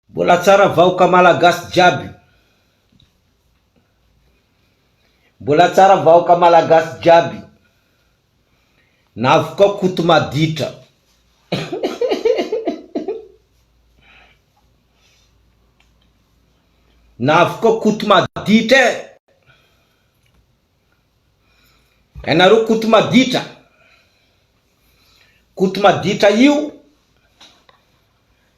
Mbola tsara vahoka malagasy jiaby. Mbola tsara vahoka malagasy jiaby. Navokao koto maditra. Navokao koto maditra eh. Hainareo koto maditra. Koto maditra io.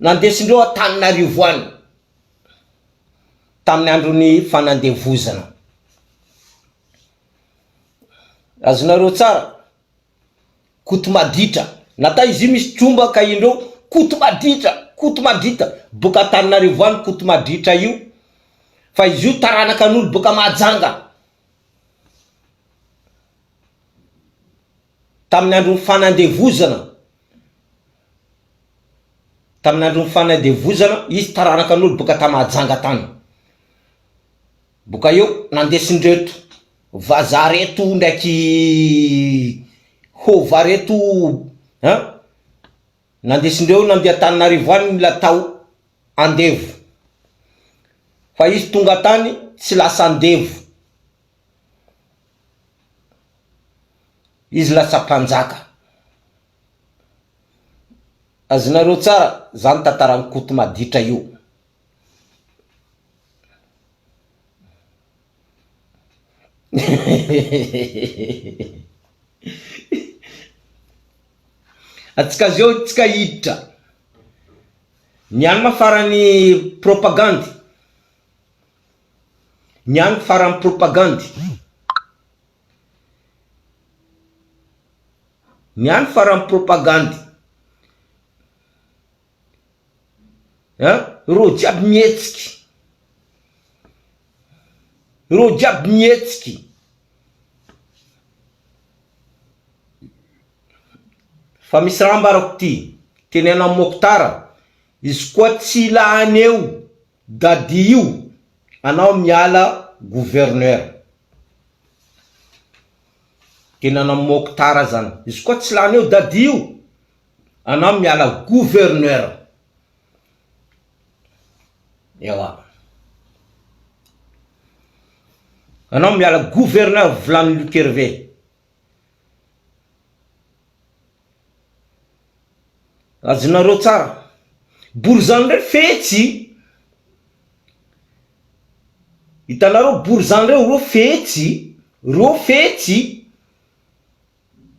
nandesindreo Antananarivo any tamin'ny andron'ny fanandevozana. Azonareo tsara? Koto maditra. Nata izy io misy tromba ka indreo koto maditra, koto madrita. Boka Antananarivo any koto madritra io fa izy io taranakan'olo boka Mahajanga. Tamin'ny andron'ny fanandevozana. Tamin'ny andron'ny fanadevozana, izy taranakan'olo boka ta Mahajanga tany. Boka eo, nandesindreto vazaha reto ndraiky hova reto an! Nandesindreo nandeha Antananarivo any mila tao andevo. Fa izy tonga tany tsy lasa andevo. Izy lasa mpanjaka. Azonareo tsara zany tantaran'i Koto maditra io. Atsika zao tsika hiditra. Ny any ma farany propagandy. Ny any faran'ny propagandy. Ny any faran'ny propagandy. An, reo jiaby mihetsiky. Reo jiaby mihetsiky. Fa misy raha ambarako ty, teneno an'i Mokhtar, izy koa tsy lany eo, Dadi io anao miala gouverneur de nana Mokhtar azan izy koa tsy lany eo Dadi io anao miala gouverneur ewa anao miala gouverneur volany Luc Hervé. Azonareo tsara. Borizano ndray fetsy. Hitanareo borizano reo reo fetsy. Reo fetsy.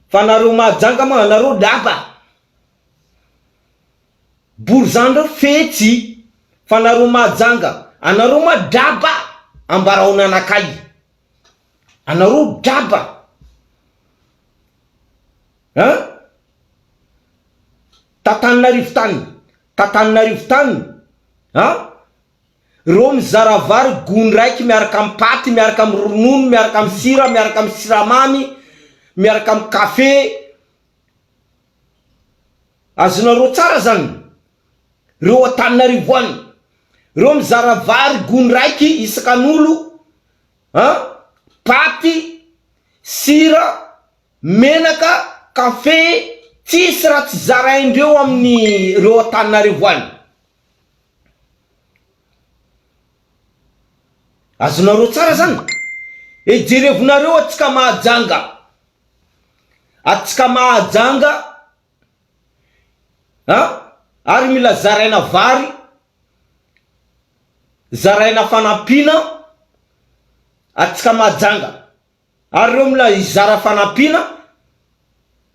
Fa nareo Mahajanga moa anareo lapa. Borizano reo fetsy. Fa nareo Mahajanga anareo moa lapa. Ambaraonanakay. Anareo draba an! Tatananarivo tany Tatananarivo tany an! Reo mizara vary gony raiky miaraka am paty miaraka am ronono miaraka am sira miaraka am siramamy miaraka am kafe azonareo tsara zany reo Antananarivo any reo mizara vary gony raiky isakanolo An! Paty, sira, menaka, kafe, tsisy raha tsy zaraindreo amin'ny reo Antananarivo any. Azonareo tsara zany? Eh jerevonareo atsika Mahajanga, atsika Mahajanga an! Ary mila zaraina vary. Zaraina fanampiana atsika Mahajanga. Ary ireo mila hizara fanampiana,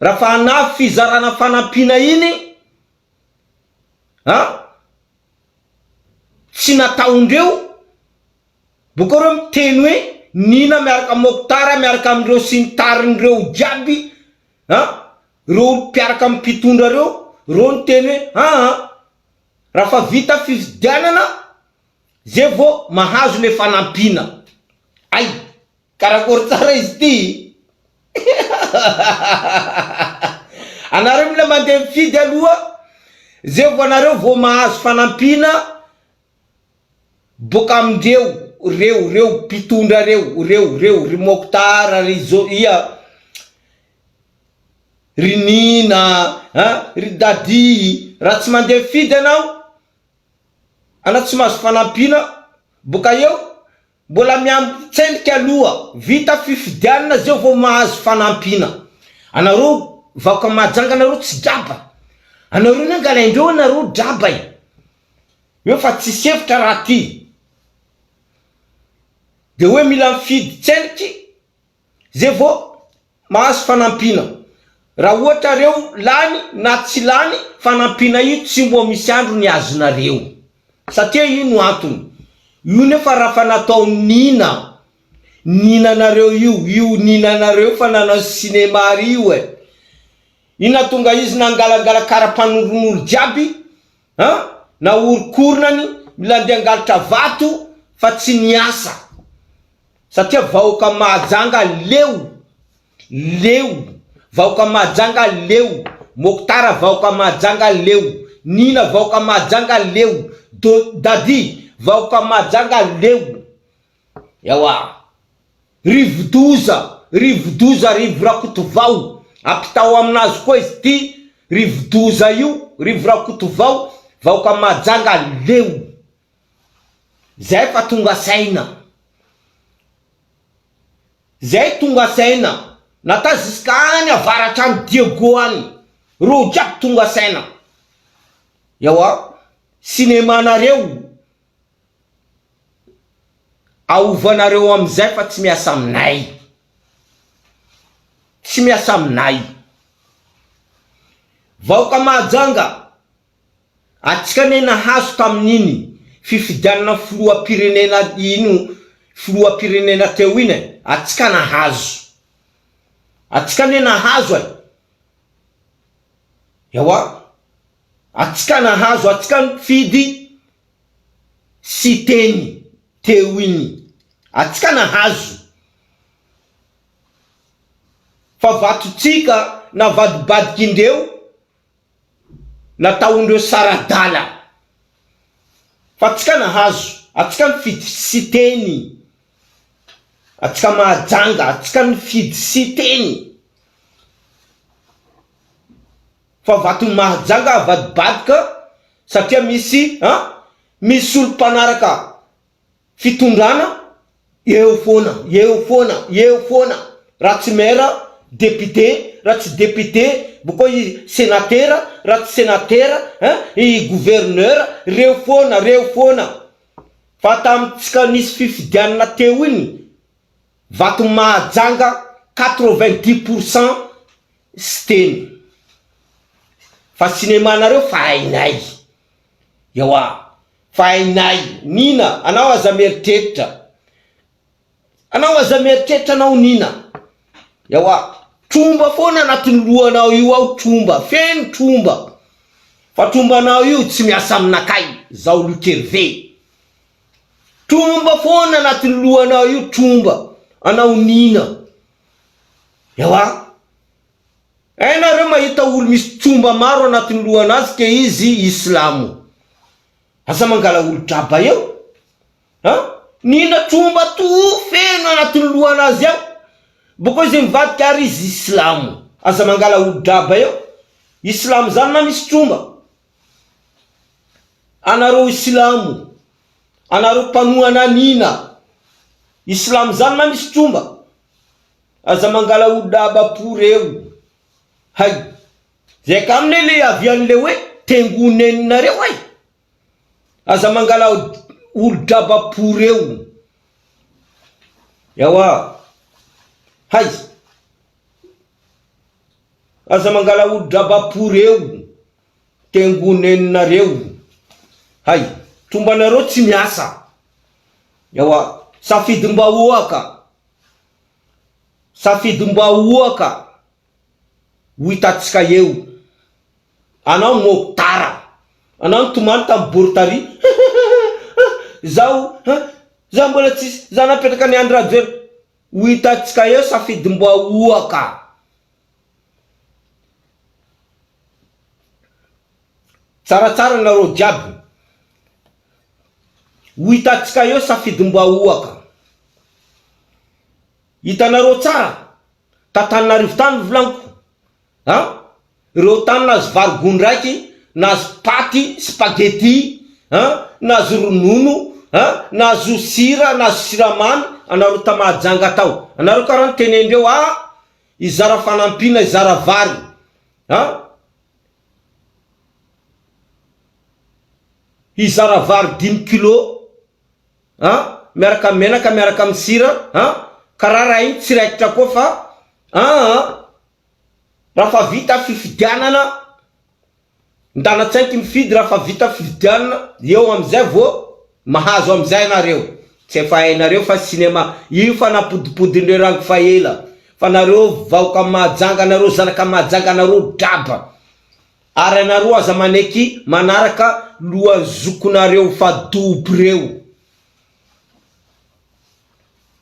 raha fa hanafy fizarana fanampiana iny an, tsy nataondreo, bokao ireo miteny hoe Nina miaraka amin'i Mokhtar miaraka amin'ireo sy ny tariny ireo jiaby an, ireo mpiaraka amin'ny mpitondra ireo, ireo niteny hoe aa. Raha fa vita fifidianana zay vao mahazo le fanampiana. Ay! Karakôry tsara izy ty? Anareo mila mandeha mifidy aloha zay vao anareo vao mahazo fanampiana boka amindreo reo reo mpitondra reo reo reo ry Mokhtar ry zo ia Ry Nina a! Ry Dadi raha tsy mandeha mifidy ianao ana tsy mahazo fanampiana boka eo mbola miambitsendrika aloha vita fifidianana zeo vao mahazo fanampiana anareo vahoka mahajanga anareo tsy draba anareo ny angalaindreo anareo draba e! eo fa tsisy hevitra raha ty de hoe mila mifidy tsendriky Zay vao mahazo fanampiana. Raha ohatra reo lany na tsy lany fanampiana io tsy mbo misy andro ny azonareo. Satria io no antony. Io nefa rafa natao nina ninanareo io io ninanareo fa nanao cinéma ry io eh. Io natonga izy nangalangala kara mpanornolo jiaby An! Naorinkorina ny milandy hangalatra vato fa tsy niasa. Satria vahoaka Mahajanga leo! Leo! Vahoaka Mahajanga leo! Moktar vahoaka Mahajanga leo! Nina vahoaka Mahajanga leo! Dody vahoaka Mahajanga leo! Ewa! Rivodoza, Rivodoza Rivo Rakotovao, ampitao aminazy koa izy ity Rivodoza io, Rivo Rakotovao, vahoaka Mahajanga leo zay fa tonga saina, zay tonga saina, na ta ziska any avaratra any Diego any, reo jiaby tonga saina, ewa, cinemanareo Aovanareo amizay fa tsy miasa aminay. Tsy miasa aminay. Vahoaka Mahajanga, atsika anie nahazo tamin'iny fifidianana filoham-pirenena iny filoham-pirenena teo iny e, atsika nahazo. Atsika anie nahazo e. Ewa, atsika nahazo, atsika nifidy Siteny teo iny atsika nahazo fa vatontsika navadibadik'indreo nataondreo saradala fa atsika nahazo atsika nifidy siteny atsika mahajanga atsika nifidy siteny Fa vaton'i Mahajanga avadibadika satria misy a misy olo mpanaraka fitondrana eo foana eo foana eo foana raha tsy maire député raha tsy député boko i senatera raha tsy senatera a i gouverneur reo foana reo foana fa tamintsika nisy fifidianana teo iny vaton'i Mahajanga quatre vingt dix pour cent Siteny. Fa cinéma nareo fa hainay. Ewa. Fa hainay. Nina. Anao aza mieritreritra. Anao aza mieritreritra anao Nina. Ewa. Tromba foana anatin'ny lohanao io ao tromba. Feno tromba. Fa trombanao io tsy miasa aminakay. Zaho Luc Hervé. Tromba foana anatin'ny lohanao io tromba. Anao Nina. Ewa. Hay nareo mahita olo misy tomba maro anatiny lohanazy ke izy islamo. Aza mangala olo draba eo a. Nina tromba toa feno anatiny lohanazy ao boko izy mivadika ary izy islamo. Aza mangala olo draba eo. Islamo zany na misy tromba Anareo islamo, anareo mpanohana an ina islamo zany na misy tromba? Aza mangala olona abapo reo hay! Zay ka aminy le iavian le hoe tengo nen'nareo ay! Aza mangala olo draba po reo! Ewa hay! Aza mangala olo draba pour reo tengo neninareo hay tombanareo tsy miasa ewa safidim bahoaka safidim bahoaka ho hitatsika eo anao mokdara anao nitomany tam bortari hihihihihihihihih zaho ha zaho mbola tsisy zaho napetraka ny andry rajoel Ho hitantsika eo safidim-bahoaka. Tsaratsara nareo jiaby. Ho hitantsika eo safidim-bahoaka. Hitanareo tsara, t'Antananarivo tany ny volaniko. An! Ireo tany nahazo vary gony raiky, nahazo paty, spaghetti, an! Nahazo ronono, an! Nahazo sira, nahazo siramamy, anareo tamahajanga tao. Anareo kara nitenendreo, ah! Hizara fanampiana, hizara vary, an! Hizara vary dimy kilo, an! Miaraka amin'ny menaka, miaraka amin'ny sira, an! Kara raha iny tsy raikitra koa fa, an! Rafa vita fifidianana ndana tsainky mifidy rafa vita fifidianana eo amizay vo mahazo amizay nareo tsy efa hainareo fa cinema io fa napodipodinireo rango fa ela fa nareo vahoka mahajanga nareo zanaka mahajanga nareo draba ary anareo aza maneky manaraka lohanzokonareo fa dobo reo.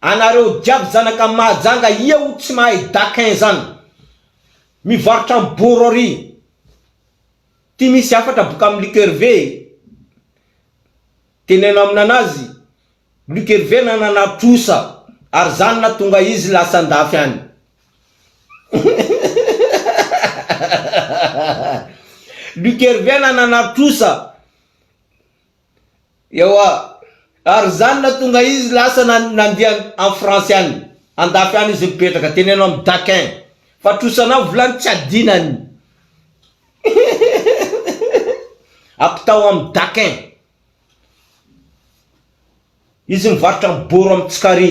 Anareo jiaby zanaka Mahajanga ia ho tsy mahay daquin zany. Mivarotra am boro ary. Ty misy hafatra boka am Luc Hervé e. Teneno am nanazy, Luc Hervé nanana trosa ary zany natonga izy lasa andafy any. Luc Hervé nanana trosa Ewa, ary izany nahatonga izy lasa nandia any France any, andafy any izy mipetraka, teneno amin'i Daquin fa trosanao volany tsy adinany, hihihihihi, ampitao amin'i Daquin, izy mivarotra am boro am tsikary,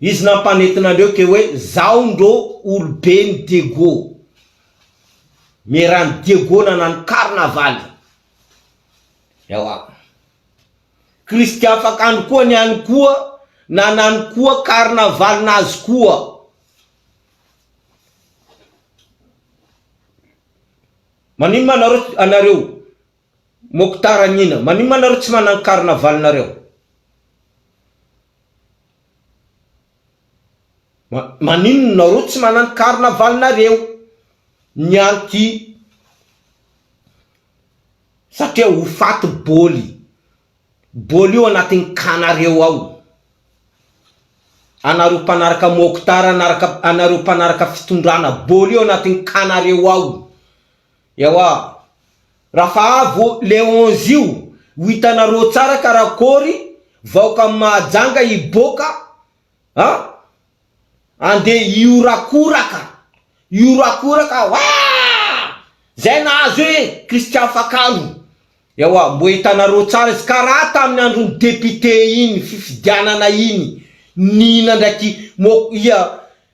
Izy nampanentina andreo ke hoe zao ndro olobe ny Diego. Mierany Diego nanano karnavaly. Ewa. Kristy afakandro koa ny any koa nanano koa karnavaly nazy koa. Maninona nareo anareo Mokhtar Amina, maninona nareo tsy managny carnaval nareo? Maninona nareo tsy managny carnaval nareo? Ny anti satria ho faty bôly, bôly io anatiny cas nareo ao, anareo mpanaraka Mokhtar anareo mpanaraka fitondrana, bôly io anatiny cas nareo ao. Ewa. Rafa avo le onze io ho hitanareo tsara karakory vahoka mahajanga hiboka a! Ande hihorakoraka hihorakoraka waa! Zay nahazo hoe Christian Fakalo. Ewa mbo hitanareo tsara izy ka raha tamin'ny andron'ny député iny fifidianana iny nihina ndraiky mo ia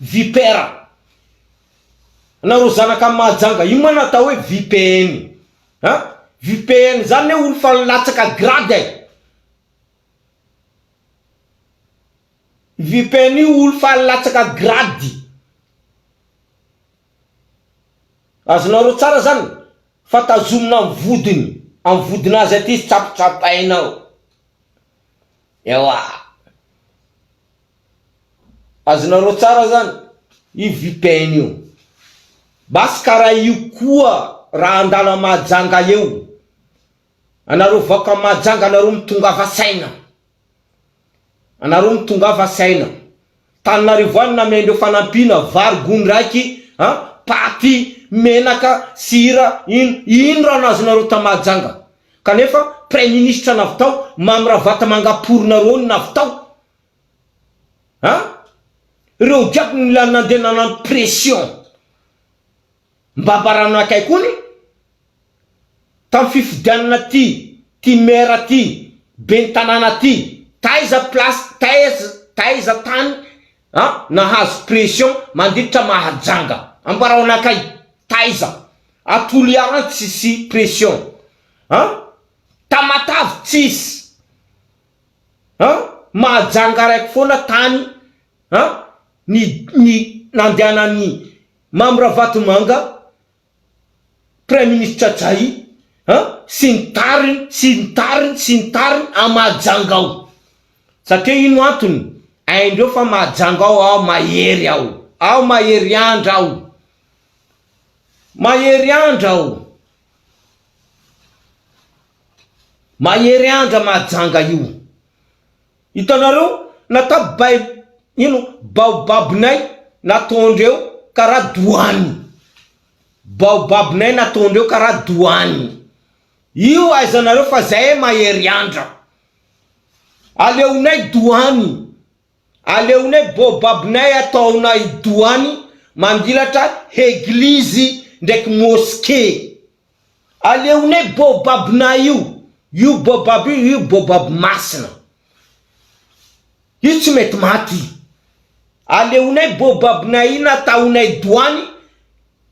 Vipera. Anareo zanaka any Mahajanga ino ma no atao hoe VPN? An? VPN zany ne olo fa nilatsaka grade e! VPN io olo fa nilatsaka grade. Azonareo tsara zany fa tazomina amin'ny vodiny, amin'ny vodinazy aty izy tsapatsapaina ao. Ewa. Azonareo tsara zany io vpn io. Basy karaha io koa raha handalo à Mahajanga eo. Anareo vaoka à Mahajanga anareo mitongava saina. Anareo mitongava saina. Tananarivo any namiaindreo fanampiana vary gony raiky a, paty, menaka, sira, ino ino raha nazonareo tà Mahajanga. Kanefa praiministra navy tao Mamy Ravatomanga pory nareo navy tao An! Reo jiaby mila nandeha nanano pression mba ambarana akay koa ny tam fifidianana ty ty maire ty ben tanàna ty taiza place taiz taiza tany an nahazo pression manditra mahajanga ambarao anakay taiza a toliara tsisy pression an tamatave tsisy an! mahajanga araiky foana tany an! ny ny nandehanan'i Mamy Ravatomanga praiminisitra Jay an! sy ny tariny sy ny tariny sy ny tariny an! mahajanga aho satria ino antony? haindreo fa mahajanga aho aho mahery aho aho mahery andra aho mahery andra aho. Mahery andra mahajanga io. Hitanareo natap bay ino baobab nay nataondreo karaha douane. Baobab nay nataondreo karaha douane. Io ahaizanareo fa zahay mahery andra. Aleonay douane. Aleonay baobab nay ataonay douane mandilatra heglizy ndraiky mosquee. Aleonay baobab nay io, io baobab io, io baobab masina io tsy mety maty, aleonay baobab nay iny ataonay doany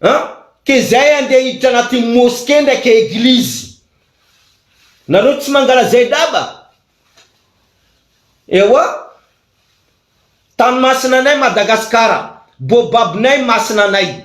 an, ke zay andeha hiditra anatin'ny mosquée ndraiky eglizy, nareo tsy mangalazay draba? Ewa, tany masina nay Madagascar, baobab nay masina nay,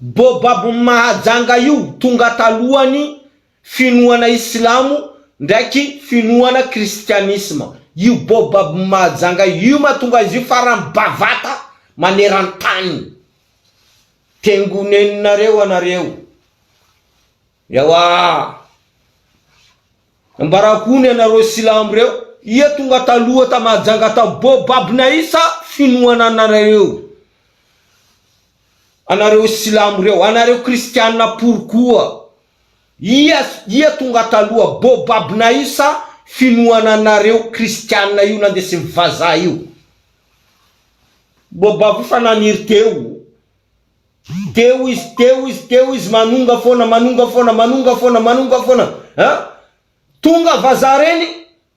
Bob Mahajanga io tonga talohan'ny finoana islamo ndraiky finoana kristianisma io Bob Mahajanga io mahatonga izy io faran'ny bavata maneran-tany. Tengoneninareo anareo. Ewa. Ambarako ony anareo silamo reo ia tonga taloha ta Mahajanga ta Bob Naisa finoana anareo io. Anareo silamo reo, anareo kristiana pory koa, ia ia tonga taloha, bobabna io sa finoana anareo kristiana io nandesin'ny vazaha io? Bobab io fa naniry teo, teo izy, teo izy, teo izy, manonga foana, manonga foana, manonga foana, manonga foana, an! Tonga vazaha reny,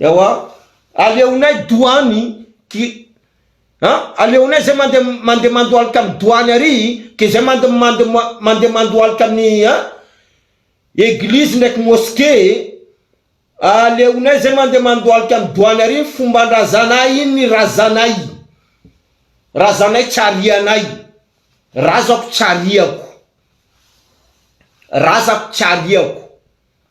Ewa aleonay doany ki a aleonay zay mande mande mandohalika am doany ary ke zay mande mande mande mandohalika am ny a eglizy ndraiky moske e aleonay zay mande mandohalika am doany ary ny fombandrazanay iny ny razanay razanay tsy arianay razako tsy ariako razako tsy ariako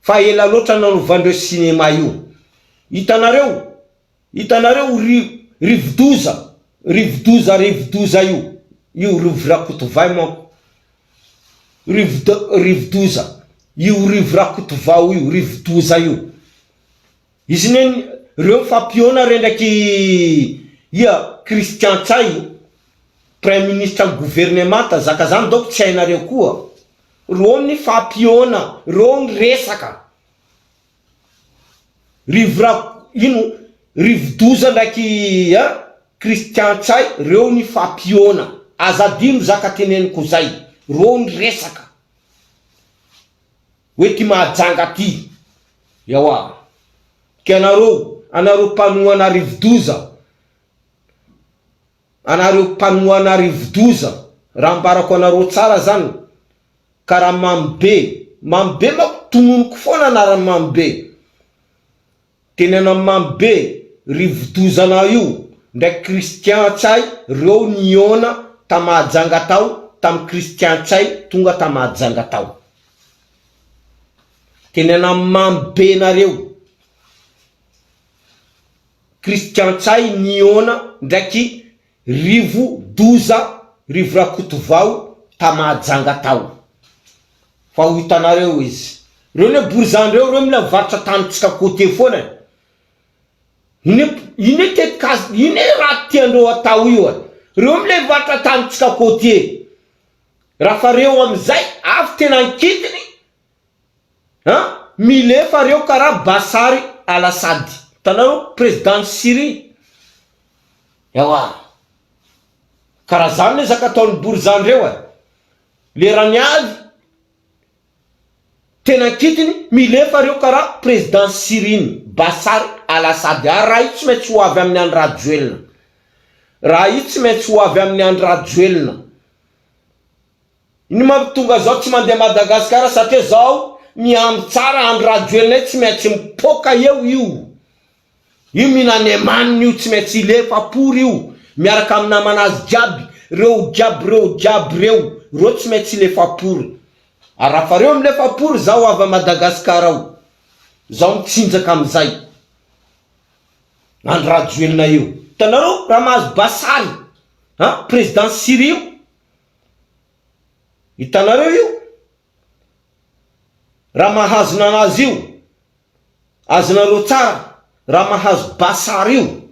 Fa ela loatra nanovan'ireo cinéma io. Hitanareo? Hitanareo ry rivodoza, rivodoza, rivodoza io, io rivo rakotovay manko, rivodo, rivodoza, io rivo rakotovao io, rivodoza io. Izy ne, reo mifampiona re ndraiky ia, Christian Ntsay, praiminisitra ny governemanta, zaka zany donc tsy hainareo koa. Reo ny fapiona reo ny resaka. Rivorak ino rivodoza ndraiky a Christian ntsay reo ny fapiona aza adino zaka teneniko zay reo ny resaka oe ty mahajanga ty ewa ka nareo anareo mpanohana rivodoza Anareo mpanohana rivodoza raha ambarako anareo tsara zan ka raha mamy be mamy be mako tononiko foana anarany mamy be tenena mamy be rivodoza anah io ndraiky christian ntsay reo niona ta mahajanga tao tam christian ntsay tonga ta mahajanga tao tenena mamy be nareo. Christian Ntsay nihaona ndraiky rivo-doza, rivo-rakotovao ta Mahajanga tao. Fa ho hitanareo izy. Reo ne borizano reo, reo mila mivarotra tanintsika côtier foana e. Ine ine tetikasa, ine raha tiandreo atao io e. Reo mila hivarotra tanintsika côtier. Rafa reo amizay avy tena ankitiny. An! Milefa reo karaha Bashar Al Assad. Hitanareo? Prezidan'i Syrie. Ewa. Karaha zany le zaka ataon'i Bourza ndreo e. Lerany avy tena an-kitiny, milefa reo karaha prezidan'i Syrie-ny, Bashar Al Assad. Ary raha io tsy maintsy ho avy amin'i Andry Rajoelina. Raha io tsy maintsy ho avy amin'i Andry Rajoelina. Ny mampitonga zao tsy mandeha Madagascar satria zao miandry tsara Andry Rajoelina io tsy maintsy mipoaka eo io io mihina ny emaniny io tsy maintsy hilefa pory io miaraka amin'ny namanazy jiaby reo jiaby reo jiaby reo reo tsy maintsy hilefa pory arafa reo milefa pory zaho avy Madagascar ao zaho mitsinjaka amizay Andry Rajoelina eo hitanareo raha mahazo basary an president Syrie io Hitanareo io? Raha mahazo nanazy io, azonareo tsara, raha mahazo Bashar io,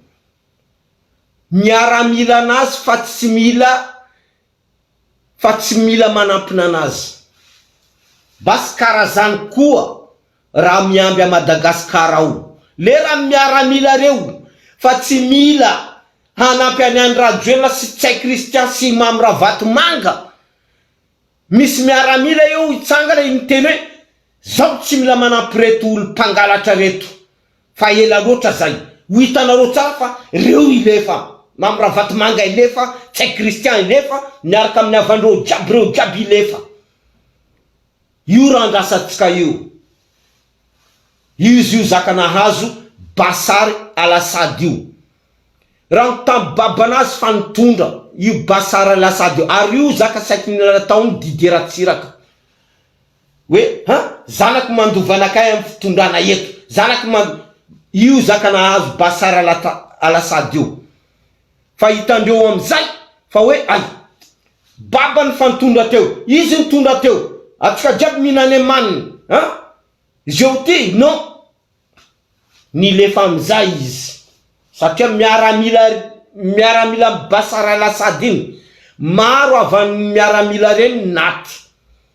miaramila anazy fa tsy mila fa tsy mila manampy nanazy. Basy karazany koa. Raha miamby a Madagascar ao lera miaramila reo fa tsy mila hanampy any Andry Rajoelina sy Ntsay Christian sy Imam Ravatomanga misy miaramila eo hitsangana iny miteny hoe zaho tsy mila manampy reto olo mpangalatra reto fa ela loatra zay ho hitanareo tsara fa reo ilefa Imam Ravatomanga ilefa Ntsay Christian ilefa miaraka aminy havandreo jiaby reo jiaby ilefa Io raha andrasantsika io. Izy io zaka nahazo Bashar Al Assad io. Raha ny tam babana azy fa nitondra io Bashar Al Assad io. Ary io zaka saiky nataony Didier Ratsiraka. Hoe ha zanaky mandova anakay am fitondrana eto. Zanaky mand. Io zaka nahazo Bashar Al Assad io. Fa hitandreo amizay fa hoe ay babany fa nitondra teo izy nitondra teo atika jiaby mihina any amaniny a zeo ty non nilefa amizay izy satria miaramila ry miaramila am Bashar al Assad iny maro avany miaramila reny naty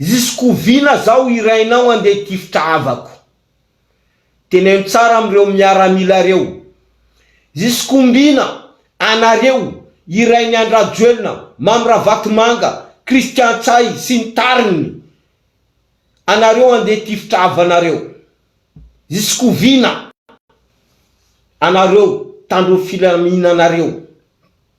Ziskoviana zaho hirainao andeha hitifitra havako. Teneno tsara amin'ireo miaramila ireo. Ziskombina anareo hirain'i Andry Rajoelina, Mamy Ravatomanga, Christian Ntsay sy ny tariny anareo andeha hitifitra havanareo. Ziskoviana anareo tandroy filaminanareo.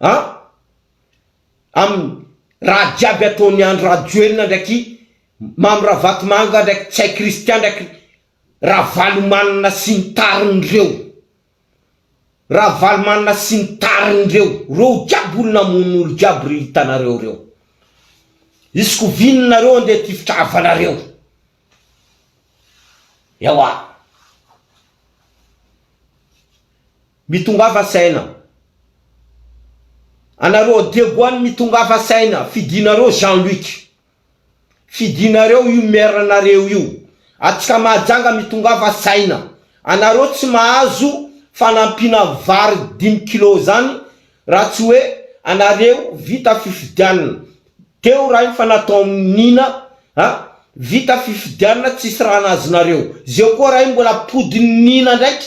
an! amin'ny raha jiaby ataon'i Andry Rajoelina ndraiky Mamy Ravatomanga ndraiky Ntsay Christian ndraiky Ravalomanana sy ny tariny reo. Ravalomanana sy ny tariny reo. Reo jiaby olo namono olo jiaby ry hitanareo reo. Izy ko vino nareo andeha tifitra havanareo. Ewa. Mitongava saina anareo Diego any mitongava saina fidinareo Jean Luc fidinareo io maire nareo io atsika mahajanga mitongava saina anareo tsy mahazo fanampiana vary dimy kilos zany Raha tsy hoe anareo vita fifidianna teo raha iny fa natao nina a! Vita fifidianna tsisy raha nazonareo. Zeo koa raha iny mbola pody nina ndraiky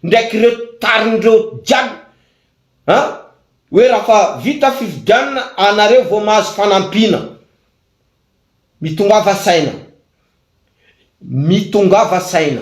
ndraiky reo tariny reo jiaby a! Hoe raha fa vita fifidianna anareo vao mahazo fanampiana. Mitongava saina. Mitongava saina.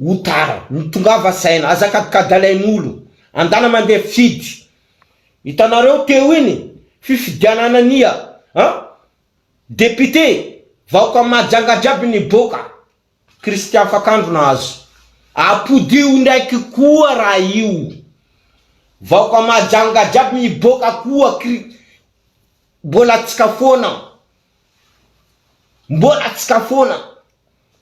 Ho tara. Mitongava saina. Aza kadikady alain'olo. Andana mandeha fifidy. Hitanareo teo iny fifidianana ny a a député. Vahoaka Mahajanga jiaby niboaka. Christian Afakandro nahazo. Apodio ndraiky koa raha io. Vahoaka Mahajanga jiaby miboaka koa kri mbola atsika foana. Mbola atsika foana.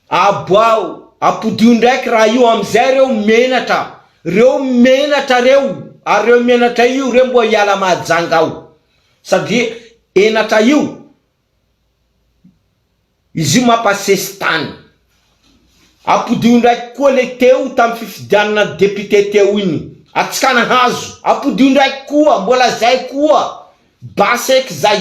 Aboaho, apodio ndraiky raha io amizay reo menatra, reo menatra reo, ary reo menatra io reo mbo hiala Mahajanga ao, sady henatra io, izy io mapa sesitany, apodio ndraiky koa le teo tam fifidianana député teo iny, atsikana hazo, apodio ndraiky koa, mbola zay koa, basy eky zay,